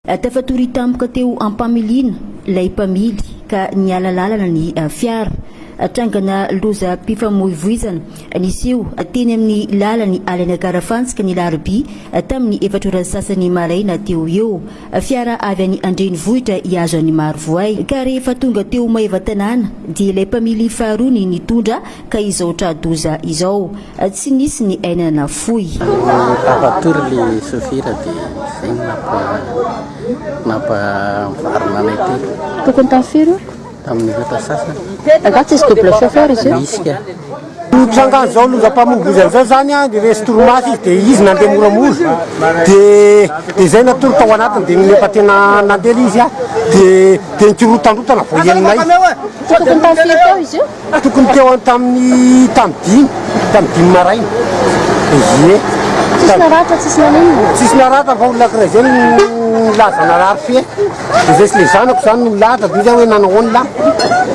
Tafatory tampoka teo am-pamiliana ilay mpamily ka niala lalana ny fiara. Trangana lozam-pifamoivoizana niseho teny amin'ny lalan'i Alenakarafantsika ny alarobia tamin'ny efatra ora sasany maraina teo eo. Fiara avy any an-drenivohitra hihazo an'i Marovoay ka rehefa tonga teo Maevatanàna dia ilay mpamily faharoa ny nitondra ka izao tra-doza izao. Tsy nisy ny aina nafoy. Tafatory ilay sôfira dia izay no nampa, nampavarina anay telo. Tokony tafiri-oko. Tamin'ny rehetra sasany. Angaha tsisy double chauffeur izy io? Misy ka. Nitrangan'izao lozam-pamongozana izao izany an, resy torimaso izy dia izy nandeha moramora, dia dia izay natory tao anatiny dia nefa tena nandeha ilay izy an, dia dia nikorotandrotana vao henonay. Tokony tamin'ny firy teo izy io? Tokony teo an- tamin'ny tamin'ny dimy, tamin'ny dimy maraina. Ie. Tsisy naratra, tsisy nanino? Tsisy naratra fa olona ankiray izay no nilaza narary fefy. Dia resy ilay zanako izany no lahatra, dia izy aho hoe nanao ahoana lahy?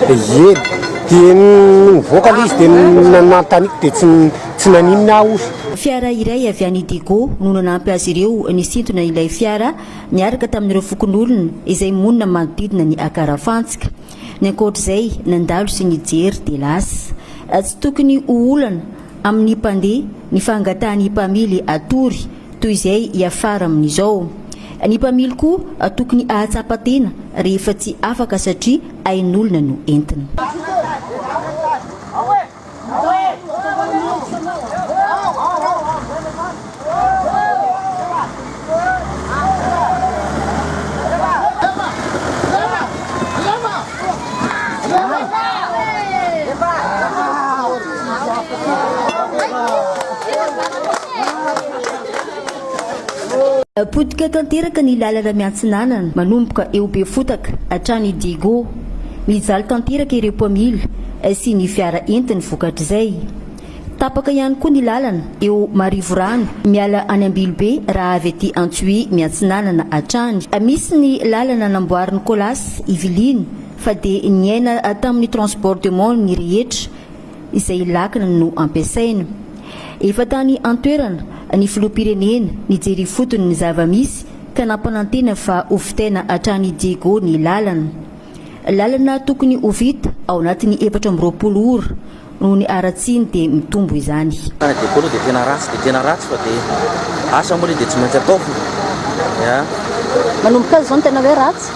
Dia hiely. Dia nivoaka ilay izy dia nanontaniako dia tsy tsy naninona aho osa. Fiara iray avy any Digo no nanampy azy ireo nisintona ilay fiara niaraka tamin'ireo fokonolona izay monina manodidina ny Akarafantsika. Ny ankoatra izay nandalo sy nijery dia lasa. Tsy tokony ho olana amin'ny mpandeha ny fangatahan'ny mpamily hatory. Toy izay hiafara amin'izao. Ny mpamily koa tokony hahatsapa tena rehefa tsy afaka satria ain'olona no entina. Potika tanteraka ny lalana miantsinanana manomboka eo Befotaka hatrany Digo. Mijaly tanteraka ireo mpamily sy ny fiara entiny vokatr'izay. Tapaka ihany koa ny lalana eo Marivorano miala any Ambilobe raha avy aty Antsohihy miantsinanana hatrany. Misy ny lalana namboarin'ny Colas Yvelines fa dia niaina tamin'ny transport de mont ny rehetra. izay ilakiny no ampiasaina. Efa tany an-toerana ny filoham-pirenena nijery ifotony ny zava-misy ka nampanantena fa ho vitaina hatrany Diego ny lalana. Lalana tokony ho vita ao anatin'ny efatra amby roapolo ora noho ny haratsiny dia mitombo izany. Ny Diego aloha dia tena ratsy dia tena ratsy fa dia asa moa ilay dia tsy maintsy ataovina. Manomboka aza izao ny tena hoe ratsy?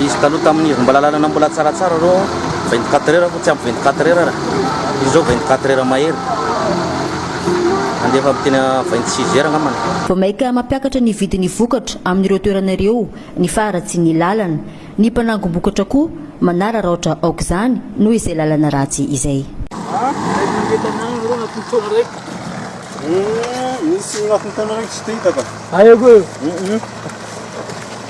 Izy taloha tamin'ny herin'ny mbalalalana mbola tsaratsara reo aho, vingt quatre heures fa tsy ampy vingt quatre heures ra, izy zao vingt quatre heures mahery, handefa aby tena vingt six heures angambany. Vao maika mampiakatra ny vidin'ny vokatra amin'ireo toerana ireo ny faharatsian'ny lalana. Ny mpanangom-bokatra koa manararaotra aok'izany noho izay lalana ratsy izay.